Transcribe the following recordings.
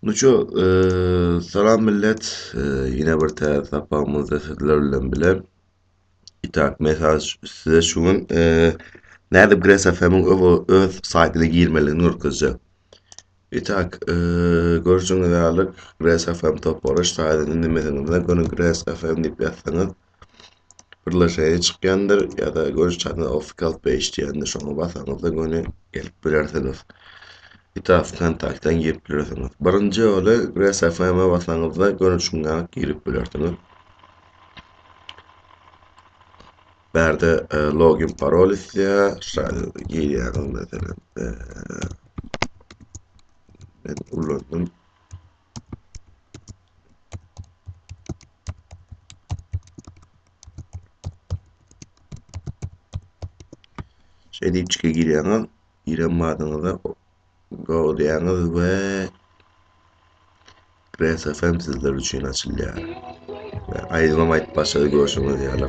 Ну ço, salam millet. Ýene bir täze sapagymyzda sizler bilen bile. Itak, men size şu gün nädip GrasFM-iň öz saýtyna girmeligini görkezjek. Itak, görşüňiz ýaly GrasFM topary saýtynyň nimediginde göni GrasFM diýip ýazsaňyz, Bir laşaýa çykýandyr ýa-da görüş çatyna Official Page diýýändir, şoňa basaňyzda göni gelip bilersiňiz. Ýa-da Wkontakten girip bilersiňiz. Birinji ýoly Grass FM-e basaňyzda göni şunda girip bilersiňiz. Bärde e, login parol islär, şaýda girýäňiz meselem. E, men ulandım. Şeýle içki girýäňiz, giren badyňyzda go diýýäňiz we Grass FM sizler üçin açylýar. Aýdymam aýdyp başlady görşüňiz ýaly.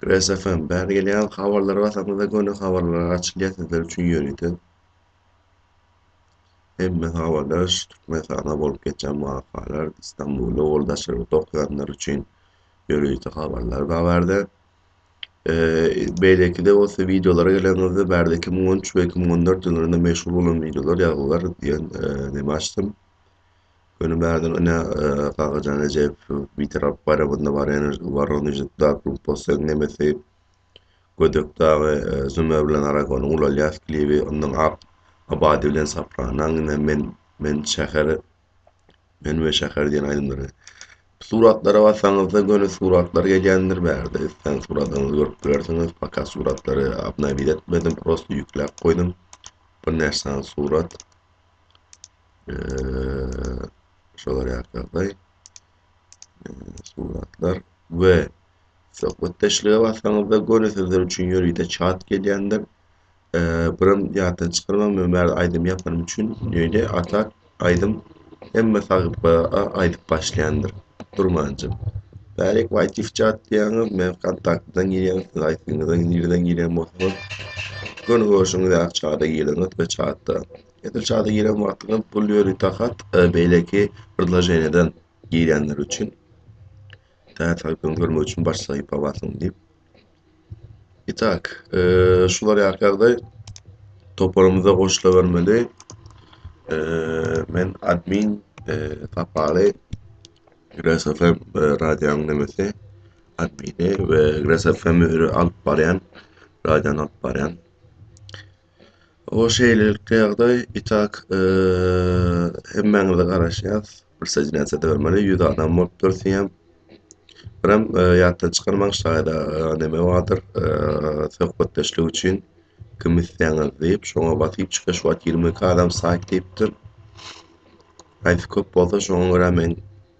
Press FM, bäri gelýän habarlara basaňyzda göni habarlar açylýar sizler üçin ýörite. Hemme habarlar şu Türkmenistana bolup geçen wakalar, Istanbulda ol daşarda okaýanlar üçin ýörite habarlar bar bärde. Beýleki de bolsa wideolara gelenimizde bärde 2013 we 2014 ýyllarynda meşhur bolan wideolar ýazgylar diýen neme açdym. Göni bärde ine Kakajan Rejeýew Bitarap baýramynda Warenež Woronežde Darkroom Posseg Nemesi Gödek dagy e, Zümer bilen Aragonyň ulalýas klibi ondan Ak Abadi bilen Sopranaň ine men men şäher men we şäher diýen aýdymlary Suratlara basaňyzda göni suratlar gelýändir bärde isleň suratyňyzy görüp bilersiňiz poka suratlary obnowit etmedim prosto ýükläp goýdum bir näçe sany surat şolar ýaly suratlar we söhbetdeşlige basanyňyzda göni sizler üçin ýörite çat gelýändir. Birim ýatdan çykarmaň, men bäri aýdym ýapanym üçin ýöne atak aýdym hemme sahypa aýdyp başlaýandyr. Durmanjym. Bärik wait difcat diýýäňiz, men kontaktdan girýän, siz aýtdyňyzda nireden girýän bolsaňyz, göni görşüňiz ýaly çada giriňiz we çatda, edil çada giren wagtyňyz pul ýöri takat beýleki predloženiýadan girýänler üçin, täze sahypany görmek üçin baş sahypa basyň diýip. Itak, eee, şular ýaly ýagdaý toparymyza goşulabermeli. Eee, men admin, eee, Sapaly Gres FM radionyň nemesi admini we Gres FM-i alyp barýan, radiony alyp barýan. O şeýlelikde ýagdaý itak hemmäňize garaşýas. Bir sejnäse dörmeli, ýüz adam bolup dörtýäm. Biram ýatdan çykarmaň şaýda neme bardyr, söhbetdeşlik üçin kim isleýäňiz diýip, şoňa basyp çyka şu wagt 22 adam saýt diýipdir. Haýsy köp bolsa şoňa görä men